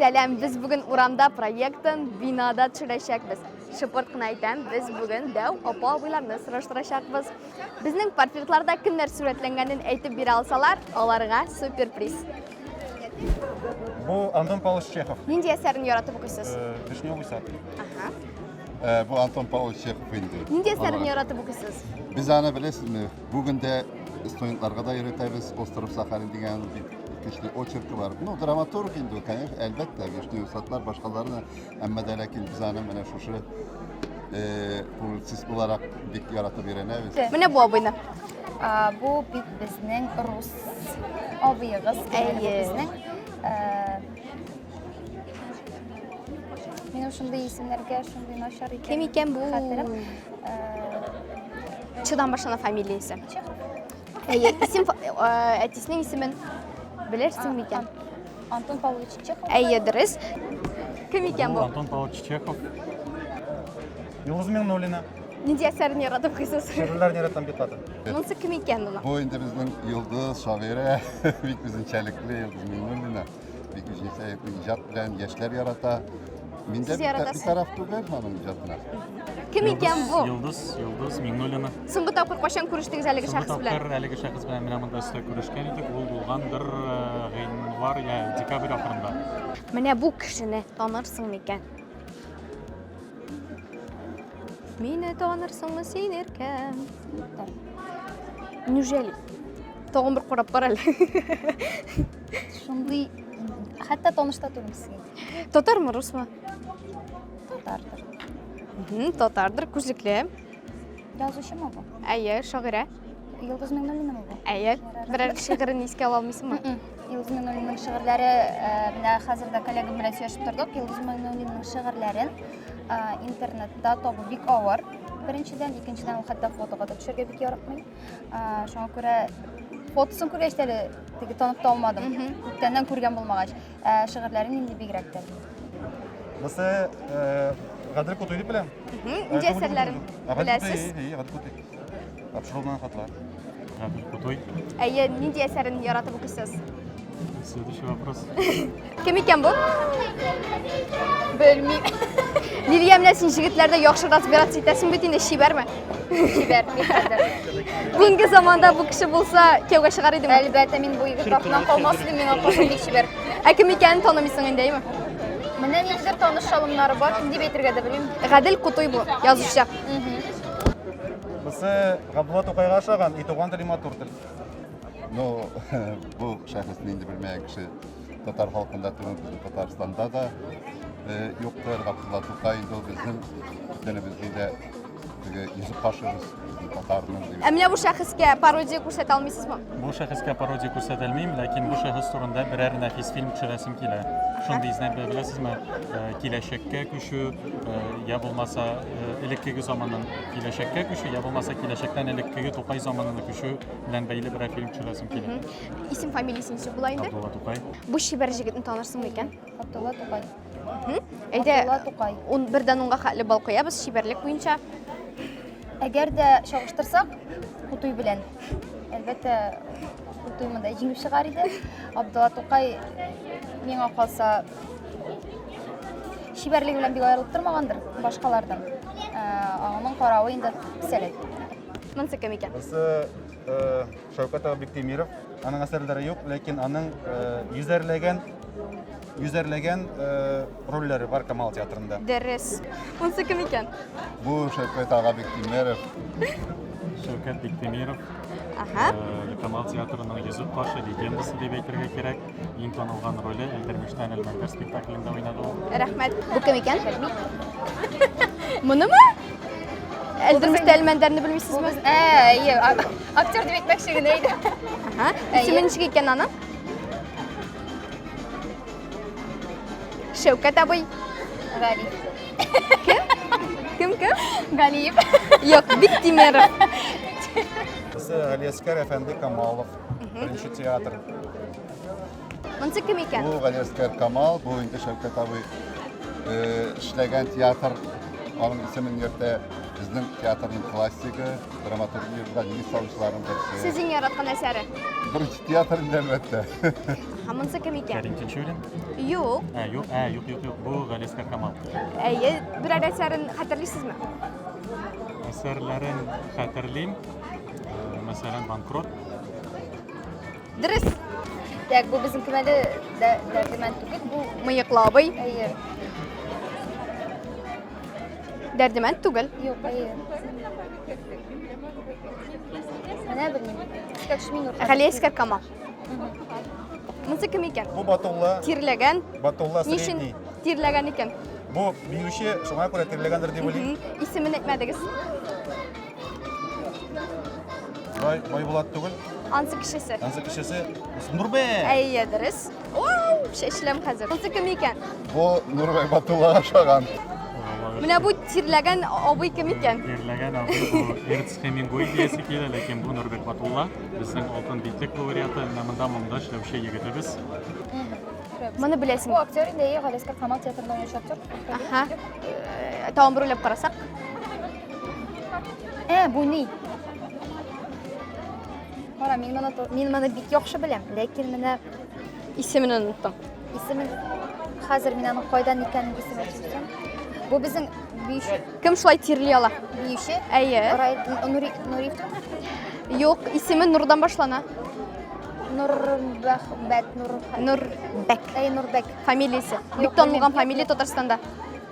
Сәләм, без бүген урамда проектын бинада төшерәчәкбез. Шыпырт кына әйтәм, без бүген дәү апа абыйларны сораштырачакбыз. Безнең портретларда кемнәр сурәтләнгәнен әйтеп бирә алсалар, аларга суперприз. Бу Антон Павлович Чехов. Нинди әсәрен яратып укыйсыз? Э, Вишневый сад. Ага. Э, бу Антон Павлович Чехов инде. Нинди әсәрен яратып укыйсыз? Без аны беләсезме? Бүген дә студентларга да өйрәтәбез Остров Сахалин дигән көчле очеркы бар. Ну, драматург инде, конечно, әлбәттә, Вишнев Сатлар башкаларны, әмма дә ләкин без аны менә шушы э, публицист буларак бик яратып өйрәнәбез. Менә бу абыйны. А, бу бит безнең рус абыегыз. Әйе. Безнең э, Минем шундый исемнәргә шундый начар икән. Кем икән бу? Хәтерем. Э, Чудан башлана фамилиясе. Әйе, исем әтисенең исемен белерсең микән? Антон Павлович Чехов. Әйе, дөрес. Кем икән бу? Антон Павлович Чехов. Юлыз Миңнуллина. Нинди әсәрен яратып куйсыз? Шигырьләрен яратам бит хатын. Монысы кем икән моның? Бу инде безнең Йолдыз шагыйрә, бик үзенчәлекле Йолдыз Миңнуллина. Бик үзгәчә иҗат белән яшьләр ярата. Мин дә бит тараф түгел аның иҗатына. Кем икән бу? Йолдыз, Йолдыз Миңнуллина. Соңгы тапкыр кайчан күрештегез әлеге шәхес белән? Соңгы тапкыр әлеге шәхес белән менә монда өстә күрешкән идек. Ул булгандыр гыйнвар я декабрь ахырында. Менә бу кешене танырсың микән? Мине танырсыңмы син иркәм? Неужели? Тагын бер карап кара әле. шундый хәтта таныш та түгел сезгә татармы русмы татардыр татардыр күзлекле язучымы бу әйе шагыйрә йолдыз миңнуллинамы бу әйе берәр шигырен искә ала алмыйсыңмы йолдыз миңнуллинның шигырьләре менә хәзер дә коллегам белән сөйләшеп тордык йолдыз миңнуллинның шигырьләрен интернетта табу бик авыр беренчедән икенчедән ул хәтта фотога да төшәргә бик яратмый шуңа күрә фотосын күргәч әле теге танып та алмадым күптәннән күргән булмагач ә шигырьләрен инде бигрәк тә бусы гадел кутуй дип беләм нинди әсәрләрен беләсез гадел кутуй тапшырылган хатлар гадел кутуй әйе нинди әсәрен яратып укыйсыз следующий вопрос Кем икән бу? Белмим. Лилия менә син җегетләрдә яхшы разбираться итәсең бит инде, чибәрме? Чибәр, никадәр. Бүгенге заманда бу кеше булса, кияүгә чыгар идеме? Әлбәттә, мин бу егет артыннан калмас идем, миңа каршы бик чибәр. Ә кем икәнен танымыйсың инде, әйме? Менә ниндидер таныш шалымнары бар, кем дип әйтергә дә белмим. Гадел Кутуй бу, язучы. Бусы Габдулла Тукайга ошаган, и туган тел, и матур тел. Ну, бу шәхес нинди белмәгән кеше. татар халкында түгел, безнең Татарстанда да э, юктыр. Габдулла Тукай инде ул безнең телебезнең дә теге йөзек кашыбыз, безнең татарның дип. Ә менә бу шәхескә пародия күрсәтә алмыйсызмы? Бу шәхескә пародия күрсәтелмим, ләкин бу шәхес турында берәр нәфис фильм төшерәсем килә. Шундый изнәп беләсезме, э, киләчәккә күчү, э, я булмаса э, элеккеге заманнан киләчәккә күчү, я булмаса киләчәктән элеккеге Тукай заманына күчү белән бәйле берәр фильм төшерәсем килә. Исем фамилиясе ничек була инде? Абдулла Тукай. Бу чибәр җегетне танырсыңмы икән? Абдулла Тукай. Әйдә, Абдулла Тукай. Он бердән онга хәтле бал куябыз чибәрлек буенча. Әгәр дә чагыштырсак, Кутуй белән. Әлбәттә, Кутуй монда җиңеп чыгар иде. Абдулла Тукай миңа калса чибәрлеге белән бик аерылып тормагандыр башкалардан. Ә, Аның каравы инде сәләт. Монсы кем икән? Монсы Шәүкәт ага Биктимиров, аның әсәрләре юк, ләкин аның э, йөзәрләгән йөзәрләгән э, рольләре бар Камал театрында. Дәрес. Монсы кем икән? Бу Шәүкәт ага Биктимиров. Шәүкәт Биктимиров. Ага. Э, Камал театрының йөзек башы легендасы дип әйтергә кирәк. Иң танылган роле Әлдермештән Әлмәндәр спектаклендә уйнады ул. Рәхмәт. Бу кем икән? Монымы? Әлдермештә Әлмәндәрне белмисезме? Ә, әйе, актер дип әйтмәкче генә иде. Ага. Исеме ничек икән аның? Шәүкәт абый. Гали. Кем? Кем кем? Галиев. Юк, бик тимер. Галиәскәр әфәнде Камалов. Беренче театр. Монсы кем икән? Бу Галиәскәр Камал, бу инде Шәүкәт абый э, эшләгән театр. Аның исемен йөртә безнең театрның классигы, драматургиядә нигез салучыларның берсе. Сез иң яраткан әсәре? Беренче театр инде әлбәттә. Һәм монсы кем икән? Кәрим Тинчурин. Юк. Ә, юк, ә, юк, юк, юк. Бу Галиәскәр Камал. Әйе, берәр әсәрен хәтерлисезме? Әсәрләрен хәтерлим. Мәсәлән, банкрот. Дөрес. Дәк, бу безнең кемәле дәрдемән түгел, бу мыеклы абый. Әйе. Дәрдемән түгел. Юк, әйе. Менә белмим. Искәкш мин урта. Хәлия искәр кама. Монсы кем икән? Бу батулла. Тирләгән. Батулла средний. Ничен тирләгән икән? Бу биюче, шуңа күрә тирләгәндер дип уйлыйм. Исемен әйтмәдегез. Бай, бай булат түгел. Ансы кешесе. Ансы кешесе Нурбе. Әйе, дөрес. Вау, шәшләм хәзер. Ансы кем икән? Бу Нурбе Батуллага ошаган. Менә бу тирләгән абый кем икән? Тирләгән абый бу Эрнст Хемингуэй диясе килә, ләкин бу Нурбек Батулла, безнең алтын битлек лауреаты, менә монда монда эшләүче егетебез. Моны беләсең. Бу актер инде, Галескар Камал театрында уйнаучы актер. Аха. Э, Тагын бер уйлап карасак. Ә, бу ни? Кара, мин моны мин моны бик яхшы беләм, ләкин менә исемен оныттым. Исемен хәзер мин аның кайдан икәнен исеме төшерәм. Бу безнең биюче. Кем шулай тирли ала? Биюче? Әйе. Нури Нури. Юк, исеме Нурдан башлана. Нурбәк, Нур. Нурбәк. Әй, Нурбәк. Фамилиясе. Бик танылган фамилия Татарстанда.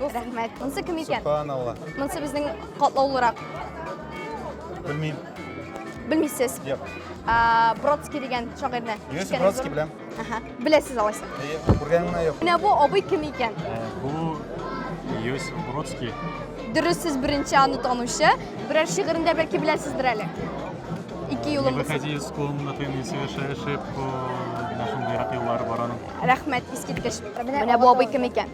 Рәхмәт. Монсы кем икән? Субханалла. Монсы безнең катлаулырак. Белмим. Белмисез? Юк. Бродский дигән шагыйрьне. Юс Бродский беләм. Аһа. Беләсез алайса. Күргәнемә юк. Менә бу абый кем икән? Бу Юс Бродский. Дөрес сез беренче аны танучы. Берәр шигырен дә бәлки беләсездер әле. Ике юлым. Не выходи из комнаты, не совершай ошибку. Нашым зират юллары бараның. Рәхмәт, искиткеч. Менә бу абый кем икән?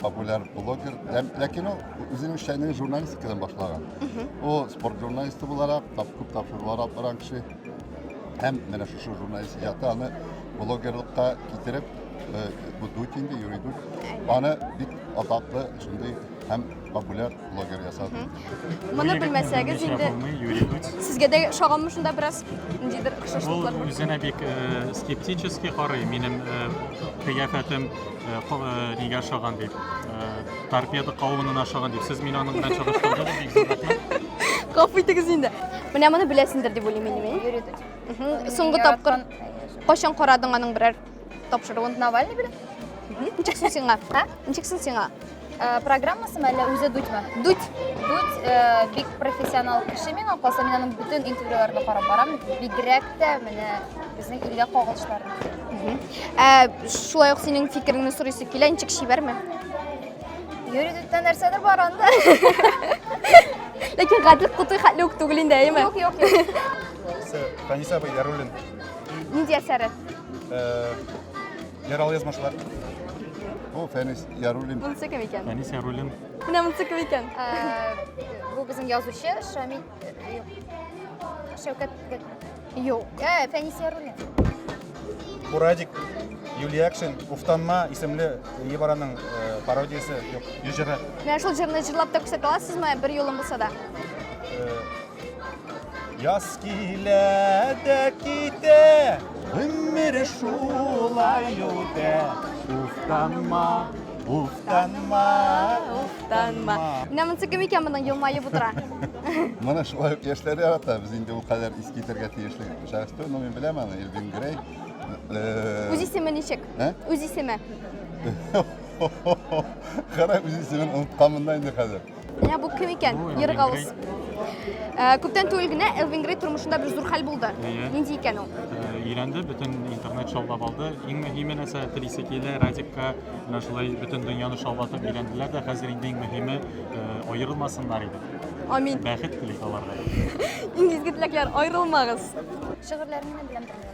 популяр блогер, ләкин ул үзенең эшләнең журналистикадан башлаган. Ул спорт журналисты буларак, тап күп тапшырулар алып барган кеше. Һәм менә шушы журналист иҗаты аны блогерлыкка китереп, э, бу дуть инде, юрый дуть. Аны бик атаклы шундый һәм популяр блогер ясап. Моны белмәсәгез инде сезгә дә шаганмы шунда бераз ниндидер охшашлыклар? Ул үзенә бик э, скептически карый, минем э, кыяфәтем э, нигә ошаган дип, торпеда кавынына ошаган дип. Сез мине аның белән чагыштырдыгыз, бик зур рәхмәт. Гафу итегез инде. Менә моны беләсендер дип уйлыйм мин. Соңгы тапкыр кайчан карадың аның берәр Тапшыруын Навальный бирә? Ничек соң сиңа? Ә? Ничек соң сиңа? Э, программасымы әллә үзе дудьмы? Дудь. Дудь э, бик профессионал кеше миңа калса, мин аның бөтен интервьюларына карап барам. Бигрәк тә менә безнең илгә кагылышларын. Ә шулай ук синең фикереңне сорыйсы килә, ничек чибәрме? Йөридүттә нәрсәдер бар анда. Ләкин гадел кутый хәтле үк түгел инде, әйеме? Юк, юк, юк. Таниса Баяруллин. Нинди әсәре? Яралы язмышлар. Бу Фәнис Яруллин. Монысы кем икән? Фәнис Яруллин. Менә монысы кем икән? Бу безнең язучы Шамил Шәүкәт. Юк. Ә, Фәнис Яруллин. Бурадик Юлиякшин Уфтанма исемле Ебараның пародиясе, юк, җыры. Менә шул җырны җырлап та күрсәтә аласызмы бер юлын булса да? Яз килә дә китә, гомер шулай үтә. Уфтанма, уфтанма, уфтанма. Менә монысы кем икән моның елмаеп утыра? Моны шулай ук яшьләр ярата. Без инде ул кадәр иск китәргә тиешле шәхес түгел, но мин беләм аны, Элвин Грей. Э, үз исеме ничек? Ә? Үз исеме. Кара, үз исемен онытканмын да инде хәзер. Менә бу кем икән? Бу Ир Галус. Э, Күптән түгел генә Элвин Грей тормышында бер зур хәл булды. Әйе. Нинди икән ул? Э, Өйләнде, бөтен интернет шаулап алды. Иң мөһиме нәрсә, телисе килә, Радикка менә шулай бөтен дөньяны шаулатып өйләнделәр дә, хәзер инде иң мөһиме э, аерылмасыннар иде. Амин. Бәхет телик аларга. Иң изге теләкләр, аерылмагыз. Шигырьләрен генә беләм.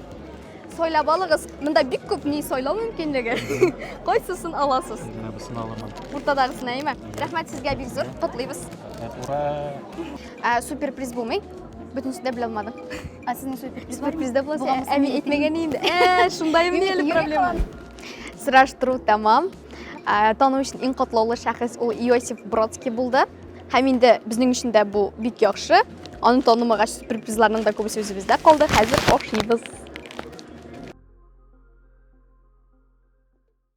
Сайлап алыгыз. Монда бик күп ни сайлау мөмкинлеге. Кайсысын аласыз? Менә бусын аламын. Уртадагысын әйме? Рәхмәт сезгә бик зур. Котлыйбыз. Ура! Ә супер приз булмый? Бөтенесе дә белә алмадым. Ә сезнең супер приз бар? Призда булса, әми әйтмәгән инде. Ә, шундаймы ни әле проблема? Сораштыру тәмам. Ә, Тану өчен иң котлаулы шәхес ул Иосиф Бродский булды. Һәм инде безнең өчен дә бу бик яхшы. Аны танымагач, сюрпризларның да күбесе үзебездә калды. Хәзер ашыйбыз.